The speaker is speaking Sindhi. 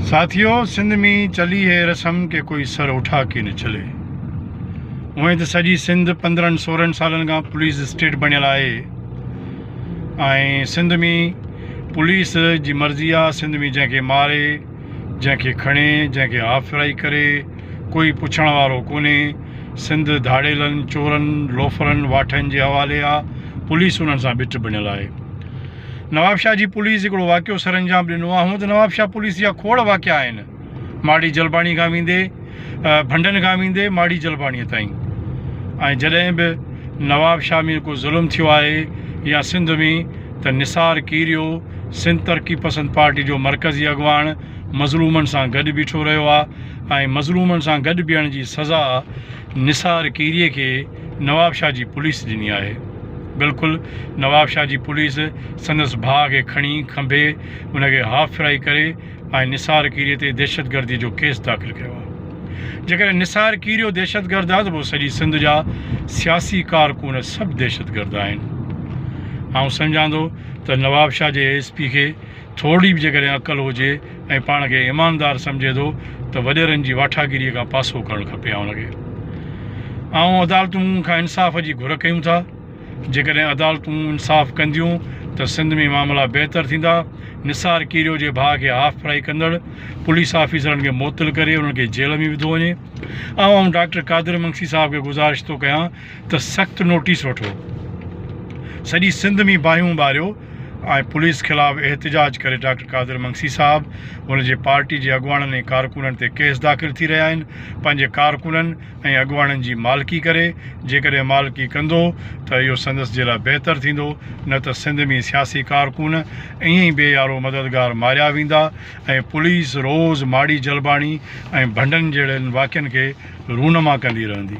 ساٿيو سنڌ مين چلي هي رسم ڪي ڪوئي سر اٺا ڪي نه چلي اوهين ته سڄي سنڌ پندرهن سورهن سالن کان پوليس اسٽيٽ بڻيل آهي ۽ سنڌ مين پوليس جي مرضي آ سنڌ مين جنهن کي ماري جنهن کي کڻي جنهن کي هاف فرائي ڪري ڪوئي پڇڻ وارو ڪونهي سنڌ ڌاڙيلن چورن لوفرن واٺن جي حوالي آ پوليس انهن سان بيٺ بڻيل آهي نوابشاهه جي پوليس هڪڙو واقعو سرانجام ڏنو آهي، هونء ته نوابشاهه پوليس جا کوڙ واقعا آهن، ماڙي جلباڻي کان ويندي، ڀنڊن کان ويندي ماڙي جلباڻي تائين ۽ جڏهن به نوابشاهه ۾ ڪو ظلم ٿيو آهي يا سنڌ ۾ ته نثار ڪيريو سنڌ ترقي پسند پارٽي جو مرڪزي اڳواڻ مظلومن سان گڏ بيٺو رهيو آهي ۽ مظلومن سان گڏ بيهڻ جي سزا نثار کيريء کي نوابشاهه جي پوليس ڏني آهي. بلڪل نوابشاهه جي پوليس سندس ڀاء کي کڻي کنڀي ان کي هاف فرائي ڪري ۽ نثار کيريء تي دهشتگردي جو ڪيس داخل ڪيو آهي. جيڪڏهن نثار کيريو دهشتگرد آهي ته پوء سڄي سنڌ جا سياسي ڪارڪن سڀ دهشتگرد آهن. آئون سمجهان ٿو ته نوابشاهه جي ايس پي کي ٿورڙي به جيڪڏهن عقل هجي ۽ پاڻ کي ايماندار سمجهي ٿو ته وڏيرن جي واٺاگيريء کان پاسو ڪرڻ کپي آئون کي آئون عدالتون کان انصاف جي گهر ڪيون ٿا جيڪڏهن عدالتون انصاف ڪنديون ته سنڌ ۾ معاملا بهتر ٿيندا نثار ڪيريو جي ڀاء کي هاف فرائي ڪندڙ پوليس آفيسرن کي معطل ڪري انهن کي جيل ۾ وڌو وڃي آئون آئون ڊاڪٽر قادر منگسي صاحب کي گذارش ٿو ڪيان ته سخت نوٽيس وٺو سڄي سنڌ ۾ باهيون ٻاريو ۽ پوليس خلاف احتجاج ڪري ڊاڪٽر قادر منگسي صاحب، هن جي پارٽي جي اڳواڻن ۽ ڪارڪنن تي ڪيس داخل ٿي رهيا آهن، پنهنجي ڪارڪنن ۽ اڳواڻن جي مالڪي ڪري، جيڪڏهن مالڪي ڪندو ته اهو سندس جي لاء بهتر ٿيندو نه ته سنڌ ۾ سياسي ڪارڪن ائين ئي بي يارو مددگار ماريا ويندا ۽ پوليس روز ماڙي جلباڻي ۽ ڀنڊن جهڙن واقعن کي رونما ڪندي رهندي.